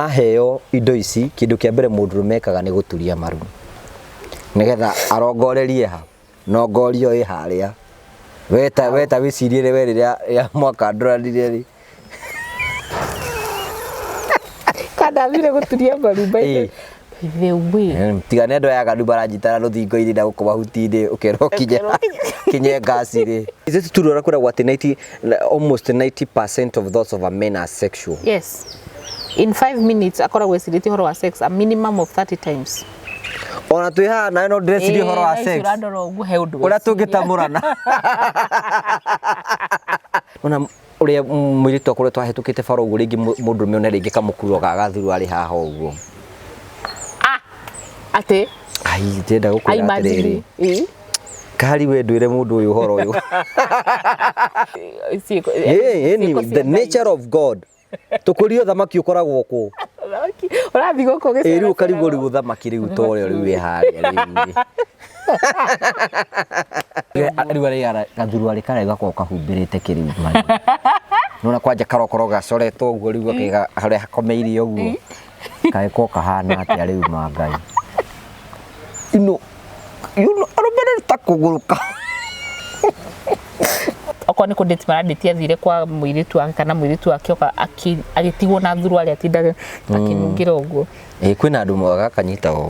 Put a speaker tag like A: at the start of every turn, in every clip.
A: Aheo indo ici, kĩndũ kĩa mbere mũndũrũme ekaga nĩ gũturia maru, nĩgetha arongorerie ha, nongoria ĩyo ĩ harĩa. We ta we ta wĩcirie rĩ we rĩrĩa rĩrĩa mwakandũranire rĩ,
B: Kandambire gũturia maru by the way. Ĩĩ. the way
A: tiga nendo ya gandu baranyitana rũthingo-inĩ na gũkũ mahuti-inĩ ũkerwo kinye kinye ngasi rĩ is it true kwĩragwo atĩ 90 na- almost 90 percent of thoughts of a men are sexual yes
B: in 5 minutes akoragwo ecirĩtie ũhoro wa sex a minimum of 30 times ona twĩ
A: haha nawe no ndĩreciria ũhoro wa Eh, sex ũrandora ũguo he ũndũ ũrĩa weciria. tũngĩtamũrana ona Ũrĩa mũirĩtu akoretwo ahĩtũkĩte bara ũguo rĩngĩ mũndũrũme one rĩngĩ kamũkuro ga gathuru arĩ haha ũguo. Ah,
B: atĩ? Ai, ndĩrenda
A: gũkwĩra atĩrĩrĩ. Kari we ndwĩre mũndũ ũyũ ũhoro ũyũ. The nature of God. Tũkũrio thamaki ũkoragwo kũ? Ũrathiĩ
B: gũkũ gĩcera. Ĩĩ rĩu ũkarigwo rĩu thamaki
A: rĩu to rĩo rĩu ĩharĩa rĩu. rĩu arĩa gathuru arĩ karĩa gakorwo kahumbĩrĩte kĩrĩu nona kwanja karokoro gacoretwo ũguo rĩu gakĩga harĩa hakomeirie ũguo kagĩkorwo kahana atĩa rĩu ma ngai ino yuno arũmĩrĩri ta kũgũrũka okorwo
B: nĩ kũndĩti marandĩti athire kwa mũirĩtu wake kana mũirĩtu wake oka aki- agĩtigwo na thuru arĩa atindaga akinungĩra ũguo ĩĩ kwĩna andũ moaga
A: kanyita ũũ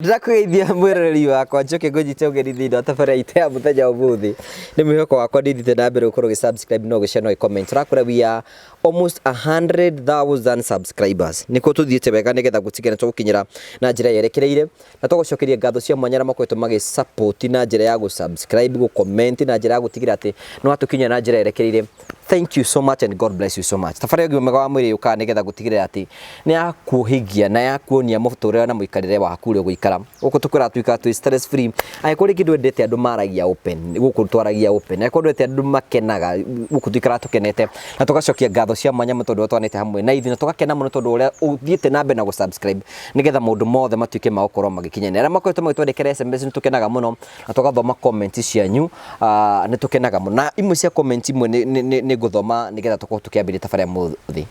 A: ndĩrakũgeithia mwĩroreri wakwa njoke ngũnyite ũgeni thĩinĩ wa tabara itũ ya mũthenya ũmũthĩ nĩ mwĩhoko wakwa ndĩthite na mbere gũkorwo gĩsubscribe no gĩcia no gĩcomment tũrakũra we are almost 100,000 subscribers nĩkuo tũthiĩte wega nĩgetha gũtigana tũgũkinyĩra na njĩra yerekereire Na tũgũcokeria ngatho cia mwanya arĩa makoretwo magĩ support na njĩra ya gũ subscribe, gũ comment na njĩra ya gũtigĩrĩra atĩ nĩ watũkinyĩra na njĩra yerekereire. Thank you so much and God bless you so much. Thabarĩ ya ũgima mwega wa mwĩrĩ yũkaga nĩgetha gũtigĩrĩra atĩ nĩ ya kuohĩgia na ya kuonia mũtũrĩre na mũikarĩre waku ũrĩa ũgũikara. Gũkũ tũkwĩraga tũikara twĩ stress free. Angĩkorwo rĩngĩ ndwendete andũ maragia open, gũkũ twaragia open. Angĩkorwo ndwendete andũ makenaga, gũkũ tũikaraga tũkenete na tũgacokia ngatho cia mwanya nĩ tondũ ũrĩa twanĩte hamwe na ithuĩ na tũgakena mũno tondũ ũrĩa ũthiĩte na mbere na gũ subscribe. nĩgetha maũndũ mothe matuĩke ma gũkorwo magĩkinyania. Arĩa makoretwo magĩtwandĩkĩra SMS nĩ tũkenaga mũno na tũgathoma comment cianyu, ah, nĩ tũkenaga mũno. Na imwe cia comment imwe nĩ- nĩ- nĩ nĩ ngũthoma nĩgetha tũkorwo tũkĩambĩrĩria tabarĩra mũthĩ.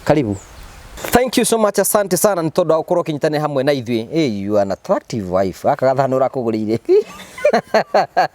A: Karibu. Thank you so much, asante sana nĩ tondũ wa gũkorwo ũkĩnyitanĩra hamwe na ithuĩ. Hey, you are an attractive wife. Gaka gathano ũrakũgũrĩire.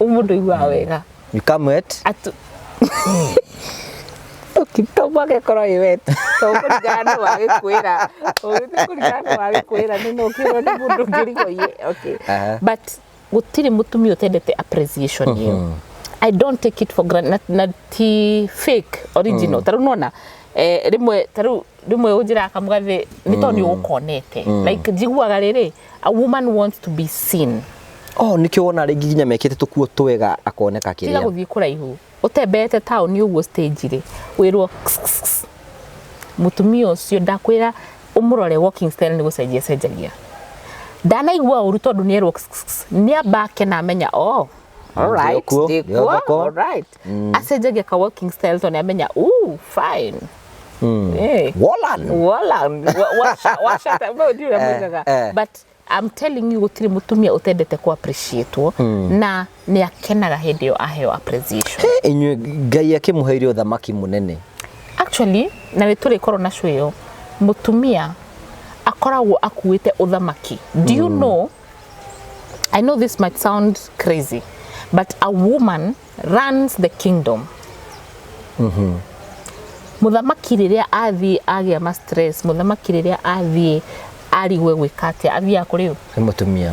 B: Ũyũ mũndũ aiguaga wega. You come wet.
A: Atu...
B: Tũkitoma gĩkorwo ĩ wet. Tondũ kũringana nĩ wagĩkwĩra. Ũgĩthiĩ kũringana nĩ wagĩkwĩra nĩ no ũkĩrwo nĩ mũndũ ũngĩ rigo iye. Okay. Aha. But gũtirĩ mũtumia ũtendete appreciation ĩyo. I don't take it for granted. Na, na ti fake original. Tarĩu nona eh, rĩmwe tarĩu rĩmwe ũnjĩraga kamũgathĩ nĩ tondũ nĩ ũkonete. Like njiguaga rĩrĩ A woman wants to be seen. Oh, nĩkĩo
A: wona rĩngĩ nginya mekĩte tũkuo twega akoneka Tiga kĩrĩa. gũthiĩ kũraihu.
B: Ũtembeete taũni ũguo stage rĩ, wĩrwo "Kss, kss, kss." mũtumia ũcio ndakwĩra ũmũrore walking style nĩ gũcenjia cenjagia. Ndanaigua ũru tondũ nĩ erwo "Kss, kss, kss." nĩ amba akena amenya oh, all right, Ndĩkuo, ndĩkuo, ndĩthoko. all right. acenjagia ka walking style tondũ nĩamenya "Ooh, fine Eh, Wolan. wala wa- washa- washa ta- no, ndiũ ũrĩa Eh, moigaga. eh. but I'm telling you gũtirĩ mũtumia ũtendete kũ appreciatwo na nĩ akenaga hĩndĩ ĩyo aheo appreciation Eh, inyuĩ ngai
A: akĩmũheire ũthamaki mũnene actually
B: na nĩ tũrĩ korwo na cũyo mũtumia akoragwo akuĩte ũthamaki do you know I know this might sound crazy, but a woman runs the kingdom. Muthamaki rĩrĩa athiĩ agĩa ma stress, muthamaki rĩrĩa athiĩ arigwe gwĩka atĩa, athiaga kũrĩ ũ? nĩ mũtumia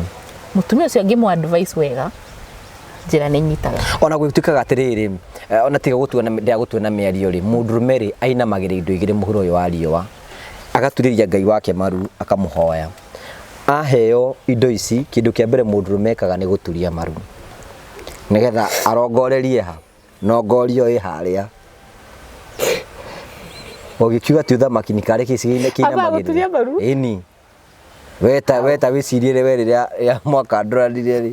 A: Mũtumia ũcio
B: angĩmũ advice wega, njĩra nĩ nyitaga. ona gwĩtuĩkaga atĩrĩrĩ
A: eh, ona tiga gũtua na- ndĩa gũtua na mĩario rĩ mũndũrũme rĩ ainamagĩrĩ indo igĩrĩ mũhuro ũyũ wa riũa agaturĩria ngai wake maru akamũhoya aheo indo ici kĩndũ kĩa mbere mũndũrũme ekaga nĩ gũturia maru nĩgetha arongorerie ha nongorio ĩ harĩa ũgĩkiuga ti ũthamaki nĩ karĩ gĩcigo-inĩ Ambaga gũturia maru? kĩinamagĩrĩra ĩni weta weta wĩcirie we rĩrĩa rĩa mwaka ndũranire rĩ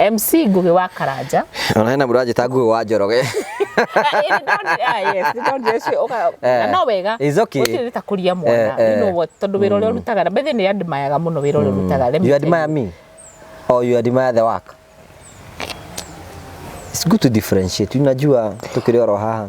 B: MC Ngũgĩ wa Karanja. Ona hena mũndũ anjĩta
A: Ngũgĩ wa Njoroge.
B: No wega. It's okay. Gũtirĩ ta kũria mwana. Eh, eh. You know what? Tondũ wĩra ũrĩa mm. ũrutaga. Mbethe nĩ admire mũno wĩra ũrĩa mm. ũrutaga. You admire me?
A: Or you admire the work? It's good to differentiate. Unajua tukiri oro haha.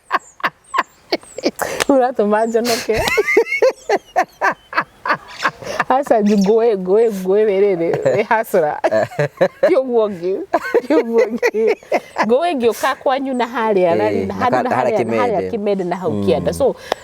B: uratuma njonoke hasa ngũĩ ngũĩ ngũĩ wĩrĩrĩ wĩ hasra ti ũguo ngĩ ti ũguo ngĩ ngũĩ ngĩũka kwanyu na harĩa Eh, rari- na na handũ ka- na harĩa harĩa na harĩa kĩmende. kĩmende na hau kĩanda so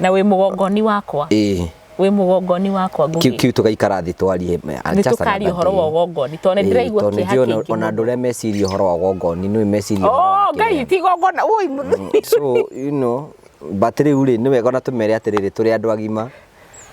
A: na wĩ mũgongoni
B: wakwa ĩĩ wĩ mũgongoni wakwa kiu ngũgĩ kiu tugaikara thĩ
A: twarie me- nĩ just tũkaria another ũhoro
B: wa day. ũgongoni tondũ nĩ Ĩĩ, ndĩraigua tondũ kĩeha nĩndĩrona kĩingĩ ona andũ mũno. arĩa meciria
A: ũhoro wa ũgongoni nĩ meciria ũhoro wa Oh, ngai kĩrĩa. ti igongona
B: ũi mũthuri so you
A: know but rĩu rĩ nĩ wega ona tũmere atĩrĩrĩ tũrĩ andũ agima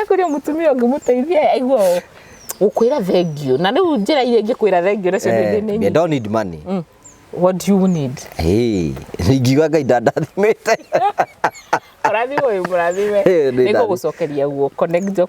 B: ekũria mũtumia ũngĩ mũteithie aigua ũũ gũkwĩra thengio na rĩu njĩra iria ingĩkwĩra thengio nacio nĩ Eh, nĩ I don't need money.
A: Mm. what do
B: you need Hey, ingiuga
A: ngai ndandathimĩte. mũrathime ũyũ
B: mũrathime Eh, nĩ nĩ ngũgũcokeria guoko nĩ njo-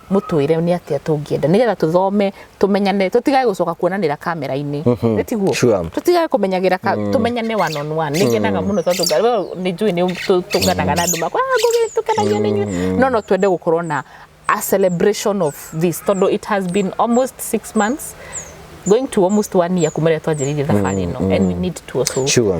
B: mũtwĩre nĩ atĩa tũngĩenda nĩgetha tũthome tũmenyane tũtigage gũcoka kuonanĩra kamera-inĩ mhm. nĩ tiguo sure. tũtigage kũmenyagĩra mm. tũmenyane one on one nĩ ngenaga mm. mũno tondũ nĩ njũĩ nĩ tũnganaga na andũ makwa ah, ngũgĩ tũkenagia nĩ inyuĩ mm. no no twende gũkorwo na a celebration of this tondũ it has been almost six months going to almost one year kuma rĩrĩa twanjĩrĩirie thabarĩ ĩno and we need to also sure.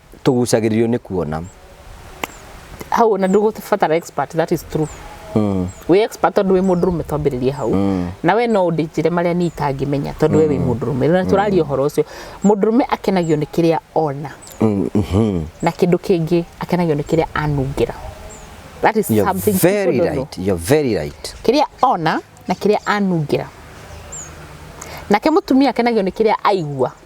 B: tũgucagĩrĩrio nĩ kuona hau ona ndũgũbatara expert that is true mm. wĩ expert tondũ wĩ mũndũ rũme twambĩrĩrie hau mm. na we no ũndĩnjĩre marĩa niĩ itangĩmenya tondũ we wĩ mm. mũndũ rũme na tũraria ũhoro ũcio mũndũ rũme akenagio nĩ kĩrĩa ona mm -hmm. na kĩndũ kĩngĩ akenagio nĩ kĩrĩa anungĩra that is you're something very right. You're very right. kĩrĩa ona na kĩrĩa anungĩra nake mũtumia akenagio nĩ kĩrĩa aigua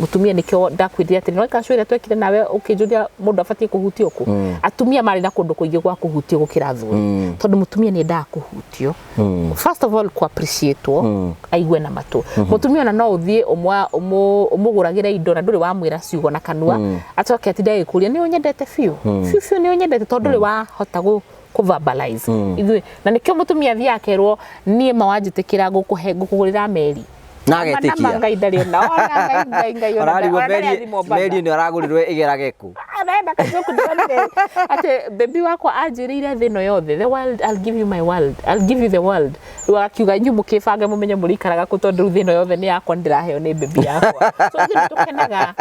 B: mutumia nikio ndakwirire atiri no ikacu ira twekire nawe ukinjuria mundu abatie kuhutio ku mm. atumia mari na kundu kuingi gwa kuhutio gukira athuri mm. tondu mutumia ni ndaa kuhutio mm. first of all ku appreciate mm. aigue na matu mm -hmm. mutumia na no uthie umwa umuguragira indo na nduri wa mwira ciugo na kanua mm. acoke atinde agikuria ni unyendete fiu mm. fiu fiu ni unyendete tondu mm. wa hota gu kũvabalize ithuĩ na nĩkĩo mũtumia athiĩ akerwo niĩ ma wanjĩtĩkĩra ngũkũhe ngũkũgũrĩra meri na Nama agetĩkia ngai ndarĩ ona ona ngai ngai ngai ona ararigwo ona ndarĩ meri athimwo mbaga. meri nĩ aragũrirwo ĩgerage kũ arenda kajoku ndonire atĩ bebi wakwa anjĩrĩire thĩ ĩno yothe the world I'll give you my world I'll give you the world rĩu agakiuga inyuĩ mũkĩbange mũmenye mũrĩikaraga kũ tondũ rĩu thĩ ĩno yothe nĩ yakwa nĩ ndĩraheo nĩ bebi yakwa so ithuĩ nĩ tũkenaga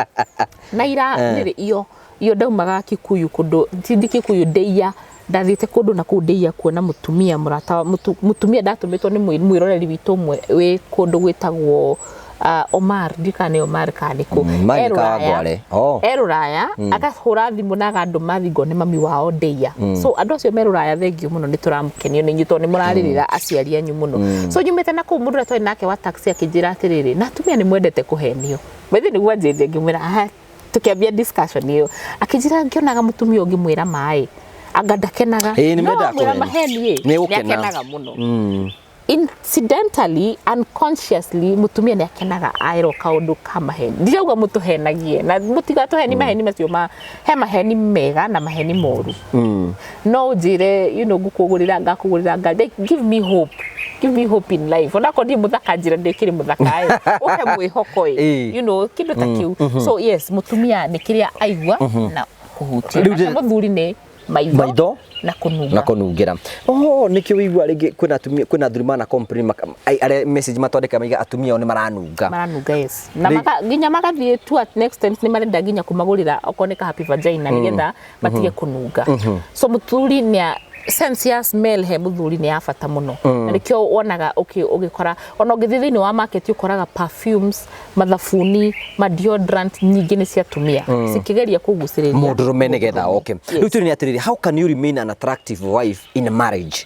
B: na ira nĩrĩ iyo Iyo ndaumaga Kikuyu kundu sindi Kikuyu ndeia ndathiite kundu na kuu ndeia kuona mutumia murata mutumia ndatumitwo ni mwiroreri witu umwe wi kundu gwitagwo uh, Omar ndi kana ni Omar kana ni ku mm, e ruraya oh. e ruraya mm. akahura thimu na agandu mathi ngone mami wao ndeia mm. so andu acio me ruraya thengiu muno ni turamukenio ni nyito ni muraririra mm. aciari anyu muno mm. so nyumite na ku mundu twa nake wa taxi akinjira atiriri na atumia ni mwendete kuhenio mwethi ni gwanjirire ngimwira tukiambia discussion iyo akijira ngionaga mutumia ungi mwira mai anga ndakenaga Ĩĩ, nĩ mendaga mwira kũheni. maheni Nĩ gũkena. akenaga muno Mm. incidentally unconsciously mutumia nä akenaga aerwo kaundu ka maheni ndirauga må tå henagie na må tiga tå heni maheni macio ma he maheni mega na maheni moru Mm. no njire you know ngukugurira ngakugurira nga like, give me hope give me hope in life onako ndi muthaka njira ndikiri muthaka eh uhe mwihoko eh Eh. you know kindu ta kiu so yes mutumia ni kiria aigua na kuhutia Rĩu ndĩ- na muthuri ni maitho Maitho. na kununga na kunungira oh nikio wigua ringi kwina atumia kwina athuri mana complain maka- ai- aria message matwandika maiga atumia ao ni maranunga maranunga yes na Rĩ- maka, nginya magathiĩ tu at next times nĩ marenda nginya kũmagũrĩra okorwo nĩ ka happy vagina nĩgetha matige kũnunga so mũthuri nĩa sense ya smell he mũthuri nĩ ya bata mũno na nĩkĩo wonaga ũkĩ- ũgĩkora ona ũngĩthiĩ thĩinĩ wa market ũkoraga perfumes mathabuni ma deodorant nyingĩ nĩ cia atumia cikĩgeria kũgucĩrĩria mũndũrũme nĩgetha oke Yes. rĩu tũrĩ nĩ atĩrĩrĩ how can you remain an attractive wife in a marriage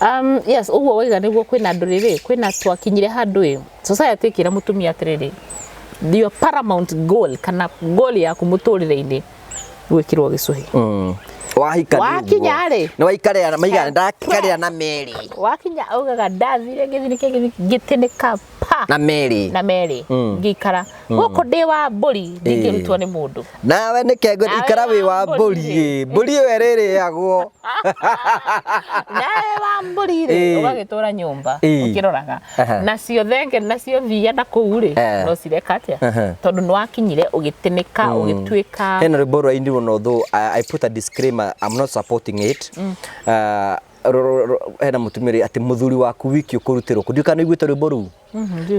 B: Um, yes, ũguo waiga nĩguo kwĩna andũ rĩrĩ, kwĩna twakinyire handũ ĩ, society ĩkĩra mũtumia atĩrĩrĩ, your paramount goal kana goal yaku mũtũrĩre-inĩ gwĩkĩrwo gĩcũhĩ. Mm. Wahika nĩ Wakinya ũguo. rĩ. Nĩ waikarĩa na maigana
A: ndakarĩa na merĩ. Wakinya augaga
B: ndathire gĩthini kĩngĩ gĩtĩnĩka pa na meri na
A: meri mm. ngikara
B: mm. guku ndi wa mburi ndingirutwo ni mundu nawe ni kengo
A: ikara wi wa mburi mburi we riri agwo
B: nawe wa mburi ri ugagitura nyumba ukiroraga na cio thenge na cio thia na kuu ri eh. no cireka atia tondu ni wakinyire ugitinika mm. ugituika hena rwimbo rwa indi
A: no though i put a disclaimer i'm not supporting it mm. uh, ro- ro- ro- hena mutumia ri ati muthuri waku wiki ukurutirwo ku ndiukana iguite rwimbo ru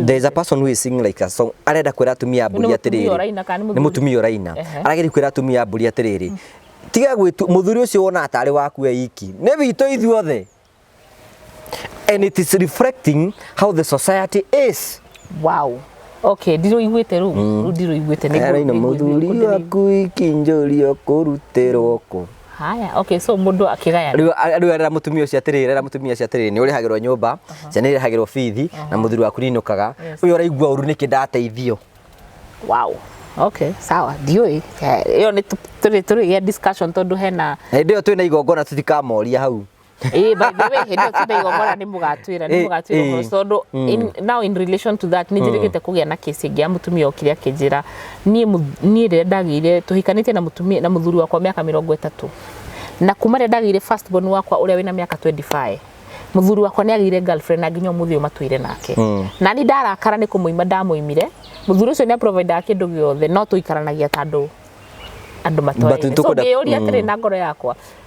A: there is a person who is singing like a song arenda kwira atumia a mburi Nĩ atiriri mũtumia ũraina kana nĩ nĩ mũthuri? mutumia uraina Ehe. arageria kwira atumia a mburi atiriri tiga gwitu muthuri ucio wona atari waku we iki ni witå ithuothe and it is reflecting how the society is wow
B: okay ndiro iguite ru ru ndiro iguite araina muthuri
A: waku iki njuri ukurutirwo ku haya okay so
B: mundu akigaya Rĩu a- rĩu era mũtumia
A: ũcio atĩrĩrĩ era mũtumia ũcio atĩrĩrĩ nĩ ũrĩhagĩrwo nyũmba ciana irĩhagĩrwo bithi na mũthuri waku ninũkaga Yes. ũyũ ũraigua ũru nĩkĩ ndateithio wow
B: okay sawa ndiũĩ Eh, ĩyo nĩ tũ- tũrĩ tũrĩ gĩa discussion tondũ hena na hĩndĩ ĩyo twĩna igongona
A: tũtikamoria hau Eh, by the way,
B: hĩndĩ ĩyo ti ndaigua mwana nĩ mũgatwĩra nĩ Eh, mũgatwĩra eh. ũhoro tondũ in- now in relation to that nĩ njĩrĩgĩte kũgĩa na kesi ĩngĩ ya mutumia okire akĩnjĩra niĩ mu- niĩ rĩrĩa ndagĩire tũhikanĩtie na mutumia na mũthuri wakwa mĩaka mĩrongo ĩtatũ na kuma rĩrĩa ndagĩire first born wakwa ũrĩa wĩna mĩaka 25 mũthuri wakwa nĩ agĩire girlfriend na nginya ũmũthĩ ũyũ matũire nake na niĩ ndarakara nĩ kũmũima ndamũimire mũthuri ũcio nĩ aprovidaga kĩndũ gĩothe no tũikaranagia ta andũ andũ But nĩtũkwenda- matwaire so ngĩyũria atĩrĩ na ngoro yakwa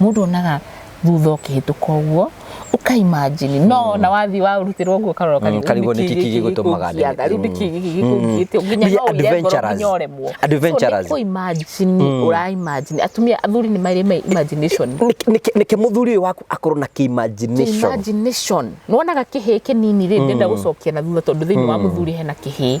B: Mũndũ onaga thutha ũkĩhĩtũka ũguo ũka imagine no mm. na wathi wa urutirwo nguo karora mm, karibu karibu ni kiki
A: gigutumaga ni karibu ni kiki gigikungite mm. nginya no adventurous
B: nyoremwo adventurous ko imagine ura imagine atumia athuri ni mari mai imagination ni ke
A: muthuri uyu waku akorwo na ki imagination imagination nwonaga kihi
B: kinini ri ndenda gucokia na thutha tondu thiini wa muthuri hena kihi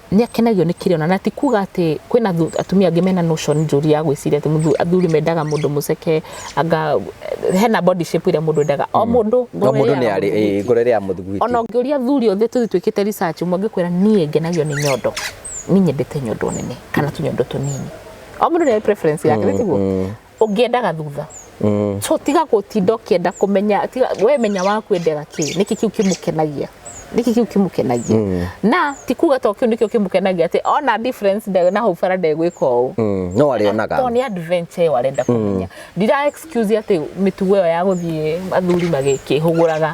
B: nĩ akenagio nĩ kĩrĩa ona na ti kuga atĩ kwĩna atumia angĩ mena notion njũru ya gwĩciria atĩ athuri mendaga mũndũ mũceke anga hena body shape ĩrĩa mũndũ endaga o mm. mũndũ ngoro
A: ĩrĩa ya mũthuri ona ũngĩũria athuri othe
B: tũthi twĩkĩte research ũmwe angĩkwĩra niĩ ngenagio nĩ nyondo niĩ nyendete nyondo nene kana tũnyondo tũnini o mũndũ nĩ preference yake nĩ tiguo mm, mm. ũngĩendaga thutha mm. so tiga gũtinda ũkĩenda kũmenya tiga we menya wa kwendera kĩ nĩkĩ kĩu kĩmũkenagia nĩkĩ kĩu kĩmũkenagia mm. na ti kuga to kĩu nĩkĩo kĩmũkenagia atĩ ona difference nde na hau bara ndegwĩka ũũ mm. no arĩonaga
A: to nĩ adventure ĩyo
B: arenda kũmenya mm. ndira excuse atĩ mĩtugo ĩyo ya gũthiĩ athuri magĩkĩhũgũraga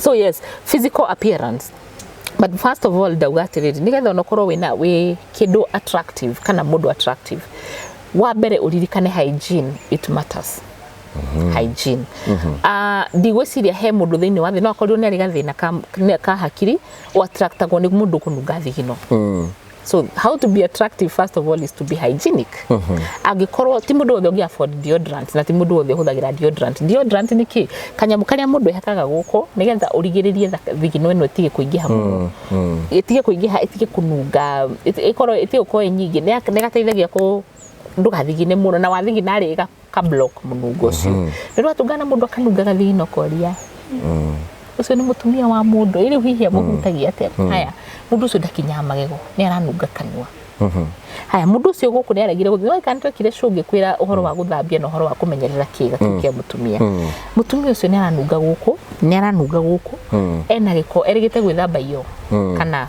A: so
B: yes physical appearance but first of all ndauga atiriri ni getha onokorwo wina wi kindu attractive kana mundu attractive wa mbere uririkane hygiene it matters mm-hmm. hygiene mm-hmm. Ah, ndigwiciria he mundu thiini wa thi no akorirwo ni ari gathina ka hakiri o attractagwo ni mundu kununga thigino mm. so how to be attractive first of all is to be hygienic mhm. angĩkorwo ti mũndũ wothe ũngĩ afford deodorant na ti mũndũ wothe ũhũthagĩra deodorant deodorant nĩ kĩ kanyamũ karĩa mũndũ ehakaga gũkũ nĩgetha ũrigĩrĩrie thigino ĩno ĩtige kũingĩha mũno mm, mm. ĩtige kũingĩha ĩtige kũnunga ĩkorwo ĩtige gũkorwo ĩ nyingĩ nĩ gateithagia kũ ndũgathigine mũno na wathigina rĩ ka block mũnungo ũcio mm. nĩ rwatungana mũndũ akanunga gathino koria mm. ũcio nĩ mũtumia wa mũndũ ĩrĩ hihi amũhutagia atĩa mm. haya mũndũ ũcio ndakinyaga magego nĩ aranunga kanua mm-hmm. haya mundu ucio guku ni aregire guthi no ikani twekire cungi kwira uhoro wa guthambia na uhoro wa kumenyerera kiga kiu kia mutumia mutumia ucio ni aranunga guku ni aranunga guku ena giko erigite gwithamba iyo kana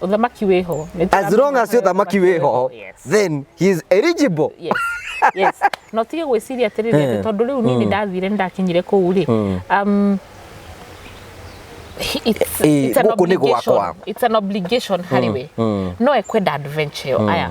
A: Uthamaki
B: wĩho. As long as
A: uthamaki wĩho, then he is eligible. Yes.
B: yes. No tige gwĩciria atĩrĩrĩ eh. atĩ tondũ rĩu niĩ nĩ mm. ndathire nĩ ndakinyire kũu rĩ. Mm. Um, it's, eh, it's, an obligation, it's an obligation harĩ mm, we mm. no ekwenda adventure yo mm. aya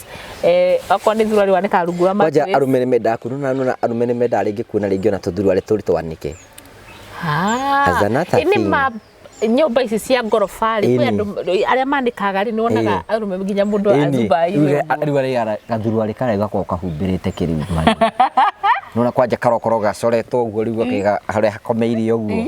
B: Eh, okorwo nĩ thurua rĩwanĩka rungu rwa kwanja matwĩ arume nĩ mendaga
A: kununa nuna arume nĩ mendaga rĩngĩ kuona rĩngĩ ona tũthurua rĩ tũrĩ twanĩke Ah, As another
B: ĩ nĩ thing. ma nyũmba ici cia ngoroba rĩ kwĩ Ĩni. andũ arĩa manĩkaga rĩ nĩwonaga Ĩĩ. arũme nginya mũndũ a Ĩni, Dubai rĩu rĩ- ũguo. rĩu arĩa
A: gathurua rĩ karĩa gakoragwo kahumbĩrĩte kĩrĩu nona kwanja karokoro gacoretwo ũguo rĩu gakĩga harĩa hakomeire ũguo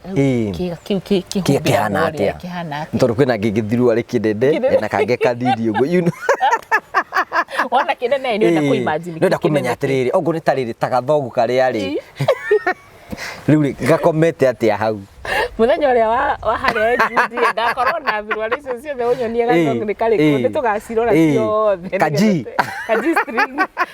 B: Ĩĩ. kĩga kĩu kĩ- Kĩ- kĩhumbĩragwo
A: kĩhana rĩrĩa atĩa? kĩhana atĩa? tondå kwä na ngä ngä thirwo arä kä ndende Kĩndende. na kangä kathiri å guo you know.
B: wona kĩnene nĩ wenda Ĩĩ. kũimagine Nĩwenda kĩu kĩnene kũmenya kĩ- atä rä rä
A: ongå nä tarä rä ta gathogu karä a rä rä u rä gakomete atä a hau mũthenya ũrĩa wa-
B: wa harĩa njundi ngakorwo na thurwarĩ icio ciothe ũnyonie Ĩĩ, gathongu nĩ karĩkũ ĩĩ, nĩ tũgacirora ĩĩ. ciothe Kaji. nĩgetha- kaji string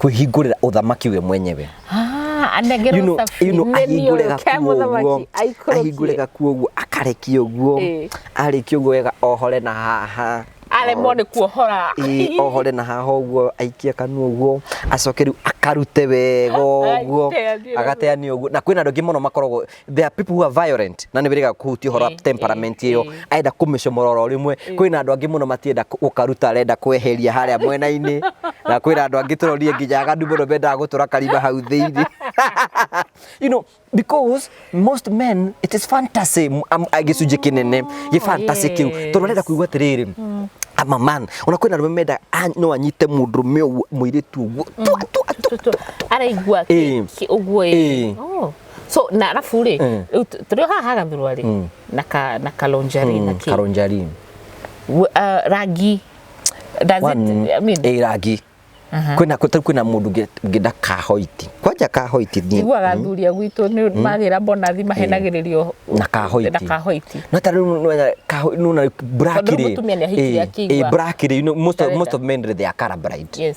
A: kwĩhingũrĩra ũthamaki we mwenyewe Ah, anengerwo you
B: know, thabini, you know, nĩ ahingũre ũyũ, ke gakuo ũguo
A: mũthamaki, aikũrũkie. ahingũre gakuo ũguo akarekia ũguo Ĩĩ. arĩkia ũguo wega ohore na haha aremwo nĩ
B: kuohora Ĩĩ, ohore na haha
A: ũguo aikie kanua ũguo acoke rĩu akarute wega ũguo Aiteanie. agateania ũguo na kwĩna andũ aingĩ mũno makoragwo there are people who are violent na nä wä kuhutia horo temperament ä yo arenda kå mä comora oro rä mwe kwä na andå angä må no matienda gå karuta arenda kweheria harä a mwena-inä na kwä na andå angä tå rorie nginya agandu må no mendaga gå tå ra karima hau thä inä you know because most men it is fantasy m- am- a- gĩcunjĩ kĩnene gĩ fantasy kĩu yes. tondũ arenda kuigua atĩrĩrĩ I'm a man ona kwĩna arũme menda a- no anyite mũndũrũme ũguo mũirĩtu ũguo twa twa twa twa
B: araigua Eh. ũguo Eh. ĩ so na arabu rĩ Mm. rĩu tũ- tũrĩ o haha hagathurwa rĩ Mm. na ka- na kalonjari na kĩ karonjari
A: W- ah,
B: rangi does it, I mean, ä rangi
A: kwina kå kwina må ndå ngä nda kahoiti kwanja kahoiti thiä iguaga athuri a gwitũ
B: nĩ magĩra mbonathi mahenagĩrĩrio na kahoiti
A: na kahoiti no ta rä u nuna Tondũ rĩu mũtumia nĩahikirie akĩigua nä Arenda. most of men they are colorblind yes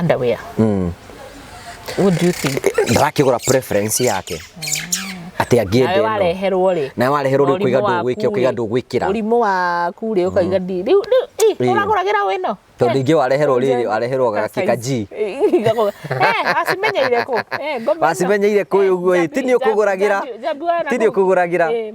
B: underwear what do you think ndarakĩgũra preference
A: yake atĩ nawe angĩenda ĩno wareherwo rĩ nawe wareherwo rĩ ũkaiga ndũ gwĩkĩra ũkaiga ndũ gwĩkĩra ũrimũ waku rĩ ũkaiga
B: ndi rĩu rĩu ĩ, Ĩ. ũragũragĩra wĩ no tondũ ningĩ wareherwo
A: rĩrĩ wareherwo gakĩka ji wacimenyeire kũ Eh,
B: ngoma ĩno. wacimenyeire
A: kũĩ ũguo ĩ ti niĩ ũkũgũragĩra Njambi- njambi waraga ti niĩ kũ? ũkũgũragĩra Ĩ,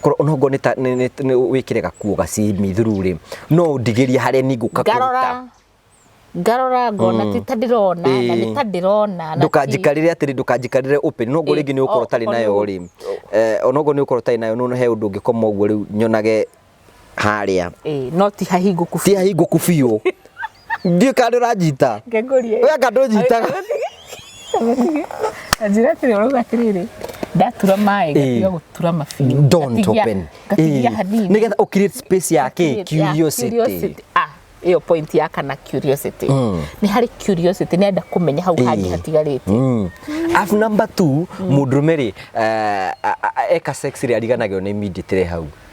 A: korwo ona ngo nita wikire gakuo gacimi thuru ri no ndigiria hare ni nguka ngarora ngarora
B: ngona mm. ti ta ndirona na eh. nĩ ta ndĩrona ndũkanjikarĩre atĩrĩ
A: ndũkanjikarĩre open no ngorwo eh, rĩngĩ nĩ ũkorwo ũtarĩ nayo rĩ eh, ona ngorwo nĩ ũkorwo ũtarĩ nayo no he ũndũ ũngĩkoma ũguo rĩu nyonage harĩa no ti
B: hahingũku ti hahingũku biũ
A: ndiä kandå ranjita ngekũrie we kandå
B: njitaga njĩra atĩrĩ ũrauga atĩrĩrĩ ndatura maĩ ngatiga Eh. gũtura mabiũ don't Ngatigia- open
A: ngatigia hanini nä getha å create space ya kä Yeah, curiosity curiosity. Ah, ĩyo
B: point ya kana curiosity Mm. nĩ harĩ curiosity nĩ enda kũmenya hau hangĩ Eh. hatigarĩte Mm. Alafu
A: number two må ndå rå me rä eka sex rä ariganagä nä mindä tä re hau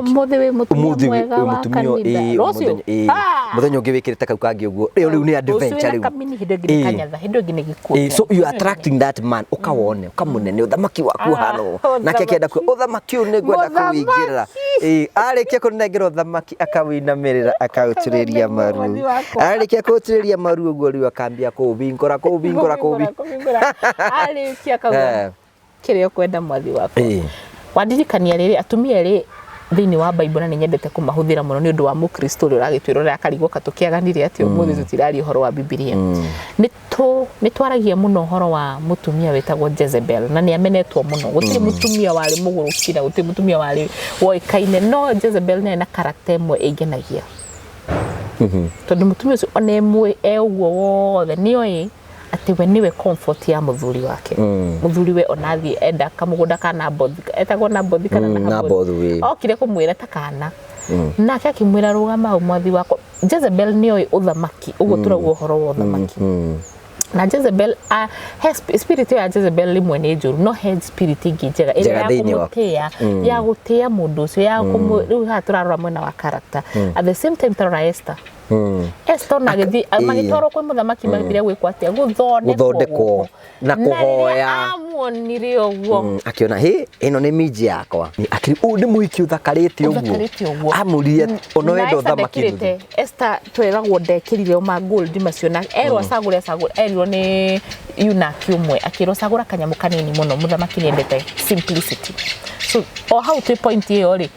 B: umuthi wi mutumia mwega wa kanitha rucio muthenya ungi
A: wikirite kau kangi uguo riu riu ni adventure riu kamini hindu ingi ni kanyatha hindu
B: ingi ni gikuo so you are attracting
A: that man ukawone ukamunene uthamaki waku hano nake akienda ku uthamaki uyu ni ngwenda kuwingira eh arikia kunengira uthamaki akawinamirira akautiriria maru arikia kuutiriria maru uguo riu akambia kuubingura kuubingura kuubingura arikia kau kĩrĩa ũkwenda mwathi wakwa Ĩĩ. wandirikania rĩrĩ atumia erĩ thĩinĩ wa Bible na nĩ nyendete kũmahũthĩra mũno nĩ ũndũ wa mũkristo ũrĩa ũragĩtwĩra ũrĩa akarigwo ka tũkĩaganire atĩ ũmũthĩ tũtiraria ũhoro wa bibilia nĩ tũ- nĩ twaragia mũno ũhoro wa mũtumia wĩtagwo Jezebel na nĩ amenetwo mũno gũtirĩ mũtumia warĩ mũgũrũki na gũtirĩ mũtumia warĩ woĩkaine no Jezebel nĩ arĩ na karakta ĩmwe ĩngenagia tondũ mũtumia ũcio ona emwĩ e ũguo wothe nĩ oĩ atĩ we nĩwe comfort ya mũthuri wake mm. mũthuri we ona athiĩ enda kamũgũnda ka nabothi etagwo nabothi kana mm, nabothi eh. okire kũmwĩra ta kana mm. nake akĩmwĩra rũgama hau mwathi wakwa jezebel nĩ oĩ ũthamaki ũguo mm. tũraguo ũhoro wa ũthamaki mm. mm. na Jezebel uh, he spirit ya Jezebel rimwe ni njuru no he spirit ingi njega ira ya kumutia mm. ya gutia mundu ucio ya kumu mm. riu ha turarora mwena wa character mm. at the same time turarora Esther hmm. Esther ona agĩthiĩ magĩtwarwo kwĩ mũthamaki hmm. magĩthire gwĩkwo atĩa gũthondekwo na kũhoya amuonire
B: ũguo hmm, akĩona hĩ ĩno
A: nĩ minji yakwa akĩrĩ ũũ nĩ mũhiki ũthakarĩte ũguo amũrire ona wenda ũthamaki Esther
B: tweragwo ndekĩrire ma gold macio na erwo acagũre acagũre erirwo nĩ yunaki ũmwe akĩrwo cagũra kanyamũ kanini mũno mũthamaki nĩendete simplicity so o hau twĩ point ĩyo rĩ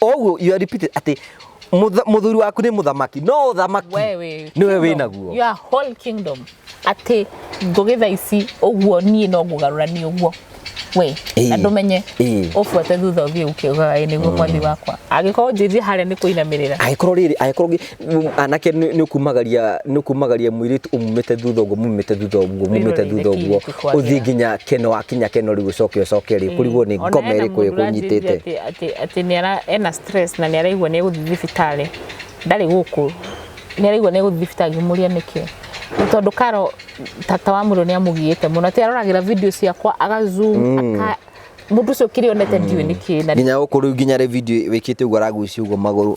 A: o ũguo you are repeated atĩ mũtha- mũthuri waku nĩ mũthamaki no ũthamaki Wewe, nĩwe wĩ kingdom, naguo your whole kingdom
B: atĩ ngũgĩ tha ici ũguo niĩ no ngũgarũra nĩ ũguo we Ĩĩ. na ndũmenye Ĩĩ. ũbuate thutha ũthiĩ ũkĩogaga ĩ nĩguo mwathi wakwa angĩkorwo njĩthiĩ harĩa nĩ kũinamĩrĩra agĩkorwo rĩrĩ agĩkorwo ngĩ-
A: Mu- anake nĩ nĩ ũkumagaria nĩ ũkumagaria mũirĩtu ũmumĩte thutha ũguo mumĩte thutha ũguo mumĩte thutha ũguo ũthiĩ nginya keno wakinya keno rĩu ũcoke ũcoke rĩ kũrigwo nĩ ngoma ĩrĩkũ ĩkũnyitĩte atĩ nĩ ara
B: ena stress na nĩ araigua nĩ egũthiĩ thibitarĩ ndarĩ gũkũ nĩ araigua nĩ egũthiĩ thibitarĩ ngĩmũria nĩkĩ Nĩ tondũ karo tata wa mũndũ nĩ amũgiĩte mũno atĩ aroragĩra video ciakwa agazoom aka mũndũ ũcio kĩrĩa onete ndiũĩ nĩkĩ na nginya gũkũ rĩu nginya rĩ video
A: wĩkĩte ũguo aragucia ũguo magũrũ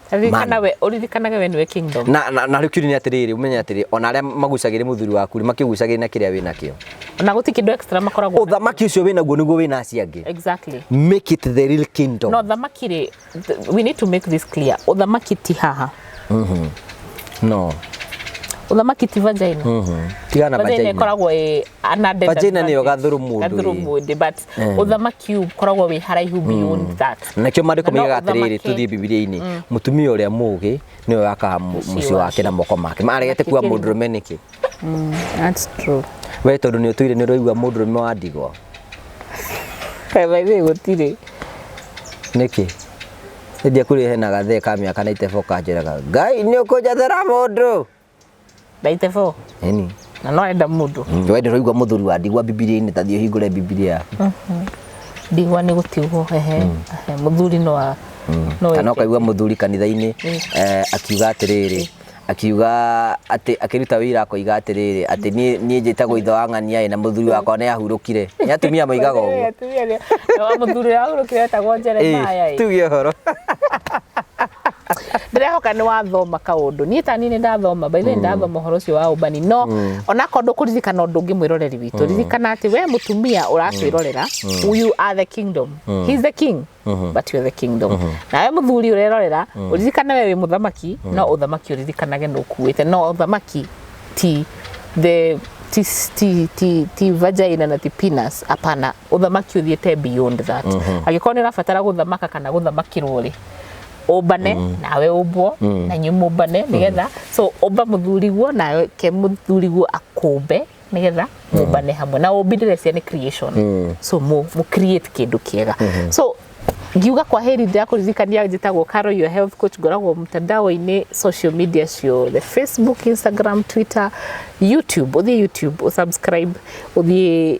A: ũririkanage we
B: nĩwe kingdom na na na rĩu nĩ atĩrĩrĩ
A: ũmenye atĩrĩrĩ ona arĩa magucagĩrĩ mũthuri waku nĩ makĩgucagĩrĩ na kĩrĩa wĩna kĩo ona gũti kĩndũ extra
B: makoragwo ũthamaki ũcio wĩna guo nĩguo
A: wĩna acio angĩ exactly make
B: it the real
A: kingdom no ũthamaki rĩ
B: we need to make this clear ũthamaki ti haha mhm
A: no
B: uthamaki ti vagina tigana vagina
A: ikoragwo
B: ä anadvagina nä yo gathå rå
A: må ndå but Eh.
B: ũthamaki ũkoragwo wĩ haraihu beyond mm. that nakio marĩko moigaga
A: atĩrĩrĩ tũthiĩ bibilia-inĩ mm. mũtumia ũrĩa mũgĩ nĩwe wakaga mũciĩ wake na moko make maregete kuga mũndũrũme nĩkĩ
B: mm, we tondũ nĩ ũtũire
A: nĩ ũraigua mũndũrũme wa ndigwa kabaithĩ
B: gũtirĩ
A: nĩkĩ ĩndĩ kũrĩ hena gathee ka mĩaka na itebo kanjĩraga ngai nĩ ũkũnjathera mũndũ 94
B: yani
A: na no enda mundu
B: mm, wende roigwa muthuri wa
A: ndigwa bibilia-inĩ ta thiĩ hingũre bibilia yaku mhm.
B: ndigwa nĩ gũtigwo ehe mm. muthuri no a mm. kana ukaigua
A: muthuri kanitha-inĩ eh, akiuga atĩrĩrĩ akiuga atä akiruta wira akoiga atiriri ati nie nie njitagwo ithe wa ng'ania na muthuri wakwa ni ahurukire ni atumia moigaga uguo muthuri ahurukire
B: etagwo Jeremiah tuge horo ndĩrehoka nĩ wathoma kaũndũ niĩ tani nĩ ndathoma by the ndathoma ũhoro ũcio wa ũmbani no ona korwo ndũkũririkana ũndũ ũngĩ mwĩroreri witũ ririkana atĩ we mũtumia ũratwĩrorera you are the kingdom he is the king but you are the kingdom nawe mũthuri ũrerorera ũririkane we wĩ mũthamaki no ũthamaki ũririkanage nĩ ũkuĩte no ũthamaki ti the ti ti ti ti vagina na ti penis hapana ũthamaki ũthiĩte beyond that angĩkorwo nĩ ũrabatara gũthamaka kana gũthamakĩrwo rĩ ũmbane nawe ũmbwo na inyuĩ mũmbane nĩgetha so ũmba mũthuriguo nawe ke mũthuriguo akũmbe nĩgetha mũmbane hamwe na ũmbi ndĩrecia nĩ creation so mũ mũ create kĩndũ kĩega so ngiuga kwa heri ndä kũririkania njĩtagwo Caro your health coach ngoragwo mtandao-inĩ social media ciothe facebook instagram twitter youtube ũthiĩ youtube ũsubscribe ũthiĩ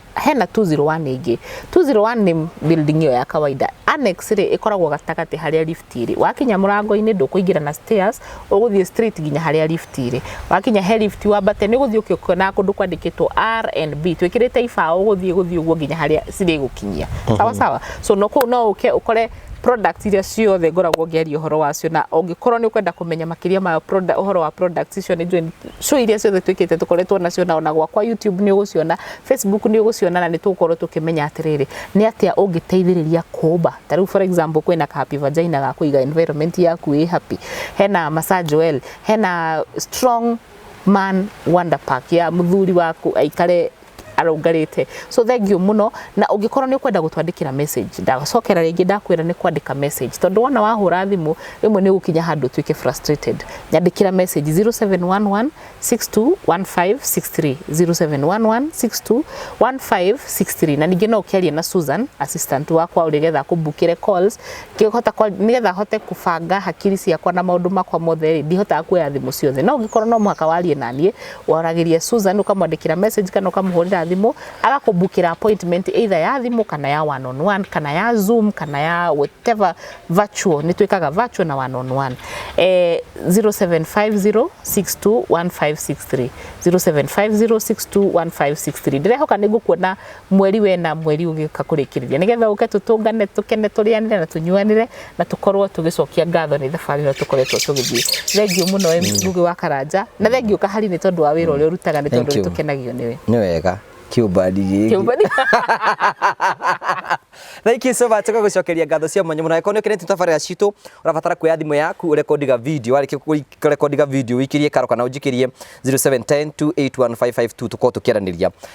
B: hena 201 ĩngĩ 201 nĩ building ĩyo ya kawaida annex rĩ ĩkoragwo gatagatĩ harĩa lift irĩ wakinya mũrango-inĩ ndũkũingĩra na stairs ũgũthiĩ straight nginya harĩa lift irĩ wakinya he lift wambate nĩ ũgũthiĩ ũkĩonaga kũndũ kwandĩkĩtwo R and B twĩkĩrĩte ibaũ ũgũthiĩ gũthiĩ ũguo nginya harĩa cirĩgũkinyia sawa sawa so no kũu no ũke ũkore Products iria ciothe ngoragwo ngĩaria ũhoro wacio na ũngĩkorwo nĩ ũkwenda kũmenya makĩria ma ũhoro wa products icio nĩ njũĩ show iria ciothe twĩkĩte tũkoretwo nacio na ona gwakwa YouTube nĩ ũgũciona, Facebook nĩ ũgũciona na nĩ tũgũkorwo tũkĩmenya atĩrĩrĩ nĩ atĩa ũngĩteithĩrĩria kũmba. Ta rĩu for example kwĩna ka happy vagina ga kũiga environment yaku ĩ happy, hena massage well, hena strong man wonder pack ya mũthuri waku aikare arũngarĩte so thengiũ mũno na ũngĩkorwo nĩ ũkwenda gũtwandĩkĩra message ndagacokera rĩngĩ ndakwĩra nĩ kwandĩka message tondũ wona wahũra thimũ rĩmwe nĩ ũgũkinya handũ ũtuĩke frustrated nyandĩkĩra message 0711 621563 0711 621563 na ningĩ no ũkĩaria na Susan assistant wakwa ũrĩa getha kũmbukĩre calls ngĩhota kwa- nĩgetha hote kũbanga hakiri ciakwa na maũndũ makwa mothe rĩ ndihotaga kuoya thimũ ciothe no ũngĩkorwo no mũhaka warie na niĩ Waragĩria Susan ũkamwandĩkĩra message kana ũkamũhũrĩra thimũ agakũbukĩra appointment either ya thimũ kana ya one on one kana ya zoom kana ya whatever virtual nĩ twĩkaga virtual na one on one eh, 0750621563 0750621563 ndĩrehoka nĩ ngũkuona mweri wena mweri ũgĩũka kũrĩkĩrĩria nĩgetha ũke tũtũngane tũkene tũrĩanĩre na tũnyuanĩre na tũkorwo tũgĩcokia ngatho nĩ thabarĩ ĩno tũkoretwo tũgĩthiĩ thengiũ mũno Ngugi mm. wa Karanja na thengiũ kahari nĩ tondũ wa wĩra ũrĩa ũrutaga nĩ tondũ nĩ tũkenagio nĩwe nĩ wega kiumbadi
A: giki thank you so much kwa gucokeria ngatho cia mwanya muno angĩkorwo nĩ ũkenete tabarĩra citũ ũrabatara kuoya thimũ yaku ũrekondiga video warĩkia kũrekondiga video wĩkirie karo kana ũnjĩkĩrie 0710281552 tũkorwo tũkĩaranĩria